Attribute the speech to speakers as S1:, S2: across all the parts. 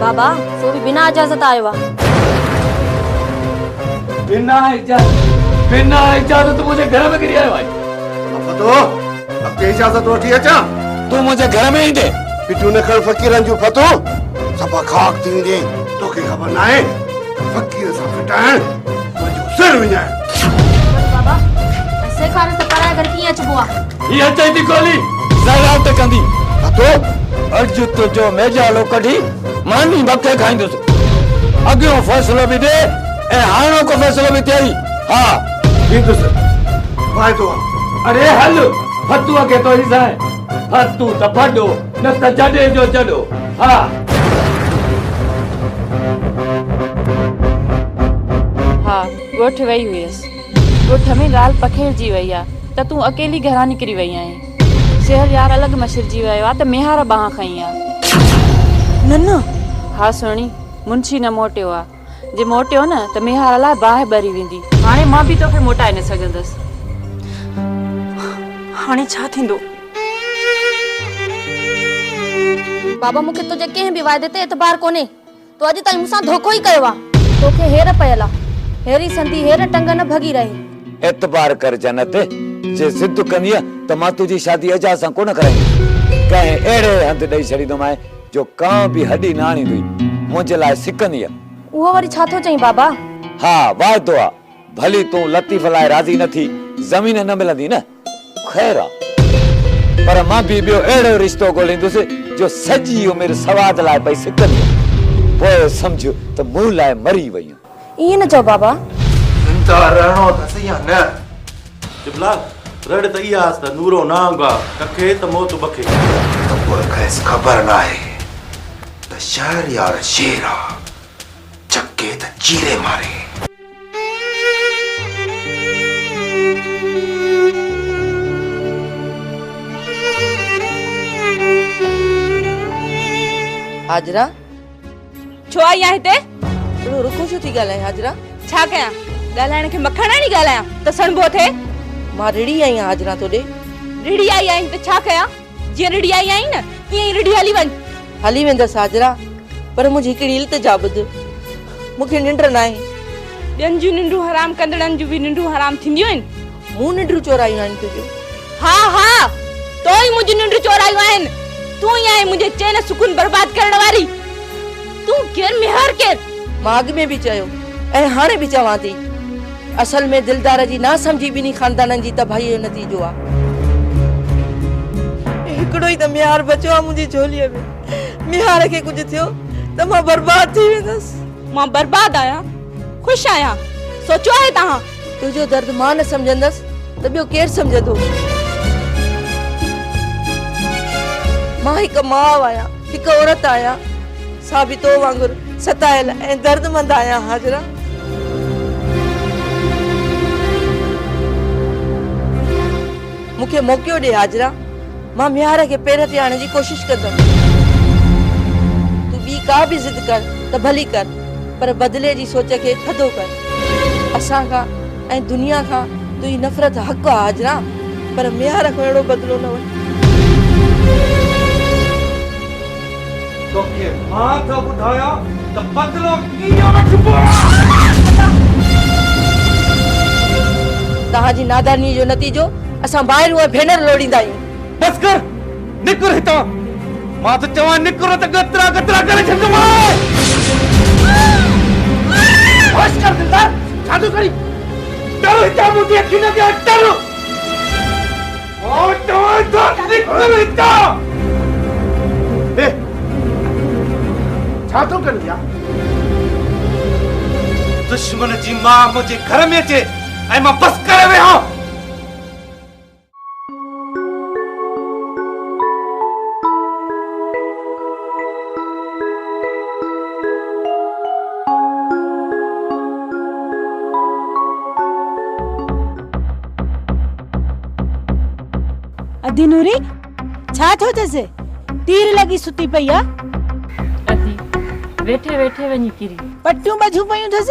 S1: بابا سو
S2: به بنا اجازت آيو آ.
S1: بنا اجازت بنا
S3: اجازت منهنجي گهر ۾ ڪري آيو آهي. فتو اڳتي اجازت وٺي اچان. تون منهنجي گهر
S1: ۾ ايندين. پيٽيون نه کڻ
S3: فقيرن جون فتو صفا خاڪ ٿي ويندين توکي خبر ناهي. فقير
S2: سان کٽائڻ منهنجو سر
S1: وڃائڻ بابا اسي کان ته پرايا گھر ڪيئن اچبو آ هي اچي ٿي گولي
S3: زهرا ته ڪندي اتو اڄ
S1: تنهنجو ميڄالو ڪڍي ماني مٿي کائيندس اڳيون فيصلو به ڏي ۽ هاڻوڪو فيصلو به ٿئي ها ڏيندس
S3: واعدو آ اڙي هل
S1: فتوح کي تو هي سائين ڀڏ تون ته ڀڏو نه ته جڏي جو جڏو
S4: ها. ها ڳوٺ وئي هئيس. ڳوٺ ۾ ڳالهه پکيڙجي وئي آ ته تون اڪيلي گهران نڪري وئي آهين. شهر يار الڳ مشرجي ويو آ ته ميهار ٻانهن کنئي آ.
S2: نه نه. ها سهڻي،
S4: منشي نه موٽيو آ. جي موٽيو نه ته ميهار لاء باهه ٻري ويندي. هاڻي مان به توکي موٽائي نه سگهندس.
S2: هاڻي ڇا ٿيندو؟ بابا مون کي تنهنجي ڪنهن به واعدي تي اعتبار ڪونهي. تو اڄ تائين مون سان ڌوڪو ئي ڪيو آ. توکي هير پيل آ. هيري سندي هير ٽنگ نه ڀڳي رهي. اعتبار ڪر
S1: جنت. جي ضد ڪندينء ته مان تنهنجي شادي اعجاز سان ڪونه ڪرائيندس. ڪنهن اهڙي هنڌ ڏئي ڇڏيندومانء جو ڪانه به هڏي نه آڻيندوئي، منهنجي لاء سڪندينء. اهو وري ڇا
S2: ٿو چئين بابا؟ ها، وعدو
S1: آ. ڀلي تون لطيف لاء راضي نه ٿي، زمين نه ملندي نه. خير آ. پر مان به ٻيو اهڙو رشتو ڳوليندس جو سڄي عمر سواد لاء پئي سڪندينء. پوء سمجهه ته مون لاء مري وئينء. ائين نه چئو بابا.
S2: زنده
S3: رهڻو اٿس يا نه؟ چپلا
S5: رڙ ته اها آس ته نورو نانگ آ ڪکي ته موت بکي. ته پوء کيس
S3: خبر ناهي ته شهريار شير آ، چڪي ته چيري ماري. حاجره!
S4: ڇو آئي آهي هتي؟ اهڙو رکو ڇو
S6: ٿي ڳالهائين حاجرا؟ ڇا ڪيان؟
S4: ڳالهائڻ کي مکڻاڻي ڳالهايان ته سڻڀو ٿئي؟ مان رڙهي آئي
S6: آهيان حاجرا توڏي. رڙهي آئي
S4: آهين ته ڇا ڪيان؟ جيئن رڙهي آئي آهين نه ائين ئي رڙهي هلي وڃ. هلي ويندس حاجرا
S6: پر منهنجي هڪڙي التجا ٻڌ. مون کي ننڊ ناهي. ٻين جون
S4: ننڊون حرام ڪندڙن جون به ننڊون حرام ٿينديون آهن. مون ننڊون چورايون
S6: آهن تنهنجون. ها ها!
S4: تو ئي منهنجون ننڊون چورايون آهن. تون ئي آهين منهنجي چين سڪون برباد ڪرڻ واري. تون ڪير ميهار ڪير؟ مان اڳ ۾ به
S6: چيو ۽ هاڻي به چوان ٿي. اصل ۾ دلدار جي ناسمجهي ٻنهي خاندانن جي تباهيء جو نتيجو آ. هڪڙو ئي ته ميهار بچيو آ منهنجي جهوليء ۾. ميهار کي ڪجهه ٿيو ته مان برباد ٿي ويندس. مان برباد
S4: آهيان؟ خوش آهيان؟ سوچيو آهي توهان؟ تنهنجو درد مان
S6: نه سمجهندس ته ٻيو ڪير سمجهندو؟ مان هڪ ماء آهيان، هڪ عورت آهيان، سا به تو وانگر ستايل ۽ دردمند آهيان هاجره. مون کي موقعو ڏي هاجره، مان ميهار کي پير تي آڻڻ جي ڪوشش ڪندم. تون ٻي ڪا به ضد ڪر ته ڀلي ڪر. پر بدلي جي سوچ کي ٿڌو ڪر. اسان کان ۽ دنيا کان تنهنجي نفرت حق آ هاجران پر ميهار کان اهڙو بدلو نه وٺ. توکي
S3: مان ٿو ٻڌايان ته بدلو ڪيئن وٺبو آ.
S6: توهان جي نادانيء جو نتيجو اسان ڀائرون ۽ ڀينر لوڙيندا آهيون. بس ڪر.
S3: نڪر هتان! مان ٿو چوان نڪر نه ته ڳترا ڳترا ڪري ڇڏندومانء! بس ڪر دلدار! ڇا ٿو ڪرين؟ ٽر هتان منهنجي اکين اڳيان ٽر! مان چوان ٿو نڪر هتان! هي ڇا ٿو ڪرين يار؟ دشمن جي ماء منهنجي گهر ۾ اچي ۽ مان بس ڪري ويهان!
S7: ادي نوري ڇا ٿيو اٿس تير لڳي ستي پئي آ ادي
S4: ويٺي ويٺي وڃي ڪري پٽيون ٻڌيون پيون
S7: اٿس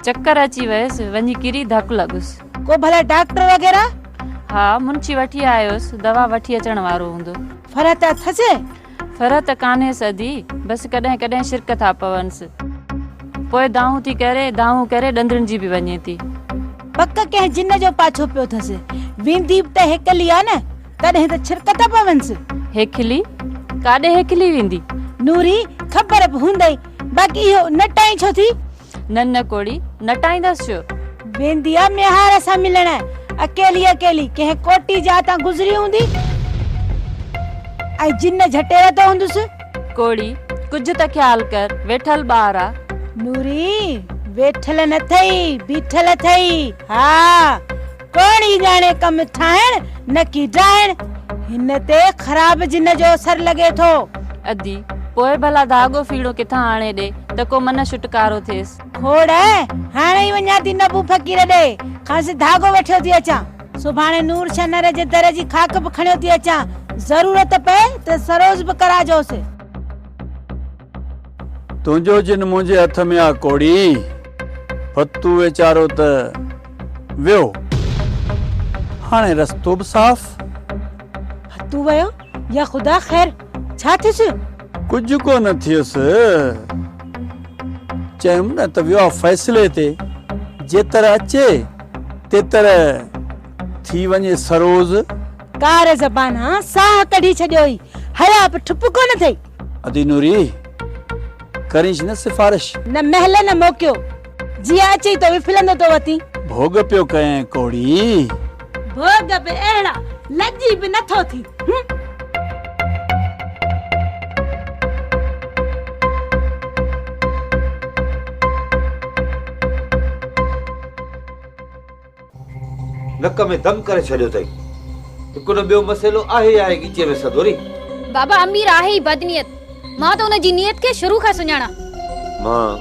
S7: چڪر اچي
S4: ويس وڃي ڪري ڌڪ لڳس ڪو ڀلا ڊاڪٽر
S7: وغيره؟ ها، منشي
S4: وٺي آيس، دوا وٺي اچڻ وارو هوندو. فرح ته اٿس؟
S7: فرح ته
S4: ڪانهيس ادي، بس ڪڏهن ڪڏهن شرڪ ٿا پونس. پوء دانهون ٿي ڪري، دانهون ڪري ڏندڻ جي به وڃي ٿي. پڪ
S7: ڪنهن جن جو پاڇو پيو ٿس. ويندي به ته هيکلي آ نه، تڏهن ته شرڪ ٿا پونس. هيکلي؟
S4: ڪاڏي هيکلي ويندي؟ نوري،
S7: خبر به هوندئي، باقي اهو نٽائين ڇو ٿي؟ نه نه ڪوڙي،
S4: نٽائيندس ڇو؟ ويندي آ
S7: ميهار سان ملڻ، اڪيلي اڪيلي ڪنهن ڪوٽي جاء تان گذري هوندي ۽ جن جهٽي وڌو هوندس. ڪوڙي،
S4: ڪجهه ته خيال ڪر، ويٺل ٻار آ. نوري،
S7: ويٺل نه اٿئي، بيٺل اٿئي، ها! ڪوڻ ئي ڄاڻي ڪم ٺاهڻ نه ڪي ڊاهڻ. هن تي خراب جن جو اثر لڳي ٿو. ادي،
S4: پوء ڀلا ڌاڳو ڦيڻو ڪٿان آڻي ڏي ته ڪو منه ڇٽڪارو ٿئيس. کوڙ،
S7: هاڻي ئي وڃان ٿي نبو فقير ڏي، کانئس ڌاڳو وٺيو ٿي اچان. سڀاڻي نور شنهر جي در جي خاڪ به کڻيو ٿي اچان، ضرورت پئي ته سروز به ڪراجوس.
S8: تنهنجو جن منهنجي هٿ ۾ آ ڪوڙي، ڀتو ويچارو ته ويو، هاڻي رستو به صاف.
S7: ڀتو ويو يا خدا خير ڇا ٿيس؟ ڪجهه ڪو
S8: نه ٿيس، چيم نه ته ويو آ فيصلي تي، جيتر اچي تيتر ٿي وڃي سروز. ڪار
S7: زبان ها ساهه ڪڍي ڇڏيو هي حيا به ٺپ ڪونه ٿئي. ادي نوري
S8: ڪرينس نه سفارش. نه مهل نه
S7: موقعو جيئن اچئي تو وڦلندو تو وتين. ڀوڳ پيو ڪئين
S8: ڪوڙي. ڀوڳ
S7: به اهڙا لڄي به نه ٿو ٿين هم.
S1: نڪ ۾ دم ڪري ڇڏيو اٿئي. هڪ نه ٻيو مسئلو آهي ئي آهي ڳچيء ۾ سڌوري. بابا امير
S2: آهي ئي بدنيت. مان ته ان جي نيت کي شروع کان سڃاڻان. مان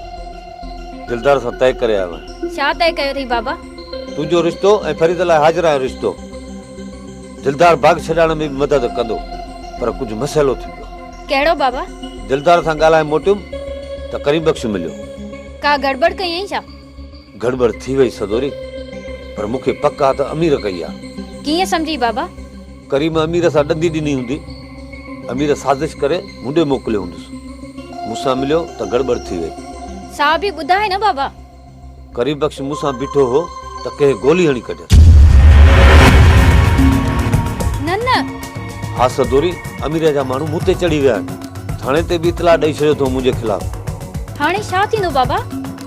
S1: دلدار سان طئي ڪري آيو آهيان. ڇا طئي ڪيو اٿئي بابا؟
S2: تنهنجو رشتو
S1: ۽ فريده لاء هاجره جو رشتو. دلدار باغ ڇڏائڻ ۾ به مدد ڪندو. پر ڪجهه مسئلو ٿي پيو آهي. ڪهڙو بابا؟
S2: دلدار سان ڳالهائي
S1: موٽيم ته ڪريم بخش مليو. ڪا گڙٻڙ
S2: ڪئي هئائين ڇا؟ گڙٻڙ ٿي
S1: وئي سدوري، پر مون کي پڪ آ ته امير ڪئي آ. ڪيئن سمجهي بابا؟
S2: ڪريم امير
S1: سان ڏندي ڏني هوندي. امير سازش ڪري مون ڏي موڪليو هوندس. مون سان مليو ته گڙٻڙ ٿي وئي. سا به ٻڌائي
S2: نه بابا. ڪريم بخش
S1: مون سان بيٺو هو ته ڪنهن گولي هڻي ڪڍيس. نه نه. ها سدوري، امير جا ماڻهو مون تي چڙهي ويا آهن. ٿاڻي تي به اطلاع ڏئي ڇڏيو اٿئون منهنجي خلاف. هاڻي ڇا ٿيندو
S2: بابا؟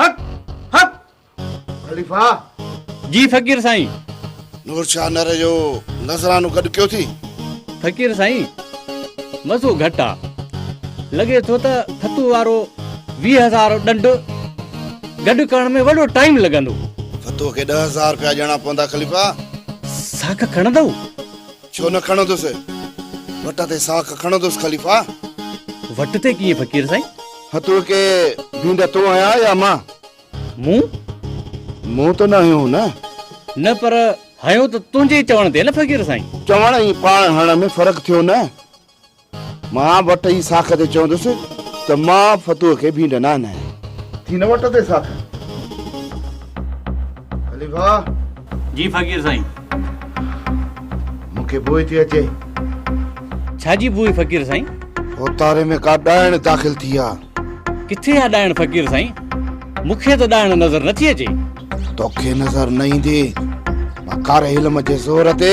S3: حق حق خليفه جي
S8: فقير سائين. نور شاهه
S9: نرهه جو نذرانو گڏ ڪيو ٿي. فقير سائين
S8: مزو گهٽ آ. لڳي ٿو ته ڦتو وارو ويهه هزار ڏنڊ گڏ ڪرڻ ۾ وڏو ٽائيم لڳندو. ڦتوء کي ڏهه
S9: هزار رپيا ڏيڻا پوندا خليفه. ساک
S8: کڻندؤ؟ ڇو نه
S9: کڻندس. وٽ تي ساک کڻندس خليفا. وٽ
S8: تي ڪيئن فقير سائين. هتو ڪي
S9: ڀينڊا تون هنيا يا مان. مون؟ مون ته نه هنيو هو نه. نه پر
S8: هنيو ته تنهنجي چوڻ تي نه فقير سائين. چوڻ ۽ پاڻ
S9: هڻڻ ۾ فرق ٿيو نه. مان وٽ ايئي ساک تي چوندس ته مان فتوح کي ڀينڊ نه آنائين. ٿي نه وٽ تي ساک خليفا. جي
S8: فقير سائين.
S9: مون
S8: کي بوء ٿي
S9: اچي.
S8: ڇا جي بوء
S9: فقير سائين. اوتاري ۾ ڪا ڏائڻ داخل ٿي آ. ڪٿي آ
S8: ڏائڻ فقير سائين. مون کي ته ڏائڻ نظر نه ٿي اچي. توکي
S9: نظر نه ايندي. مان ڪاري علم جي زور تي.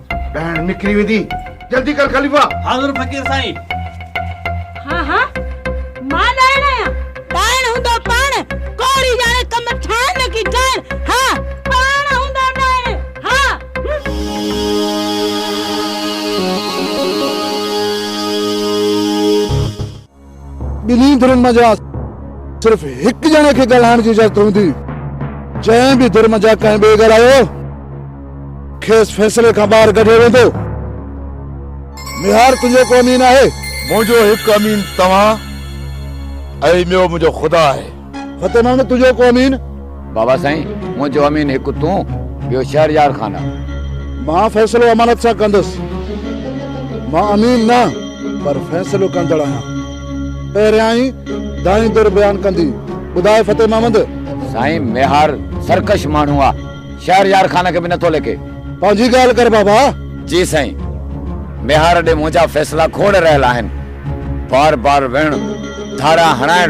S9: ڏائڻ نڪري ويندي جلدي ڪر خليفا. حاضر فقير سائين.
S7: ها ها مان ڏائڻ آهيان. ڏائڻ هوندو پاڻ ڪوڙي ڄاڻي ڪم ٺاهڻ نه ڪي ڏائڻ ها پاڻ هوندو ڏائڻ ها هم.
S9: ٻنهي ڌرين منجهان صرف هڪ ڄڻي کي ڳالهائڻ جي اجازت هوندي، جنهن به ڌر منجهان ڪنهن ٻئي ڳالهايو، کيس فيصلي کان ٻاهر ڪڍيو ويندو. ميهار تنهنجو ڪو امين آهي؟ منهنجو هڪ
S10: امين توهان ۽ ٻيو منهنجو خدا آهي. فتح محمد تنهنجو
S9: ڪو امين؟ بابا سائين
S1: منهنجو امين هڪ تون ٻيو شهريار خان آ. مان فيصلو
S9: امانت سان ڪندس. مان امين نه پر فيصلو ڪندڙ آهيان. پهريائين دانهين در بيان ڪندي ٻڌاء فتح محمد. سائين ميهار
S1: سرڪش ماڻهو آ شهريار خان کي به نه ٿو ليکي. پنهنجي ڳالهه ڪر
S9: بابا. جي سائين
S1: ميهار ڏي منهنجا فيصلا کوڙ رهيل آهن. بار بار ويهڻ ڌاڙا هڻائڻ.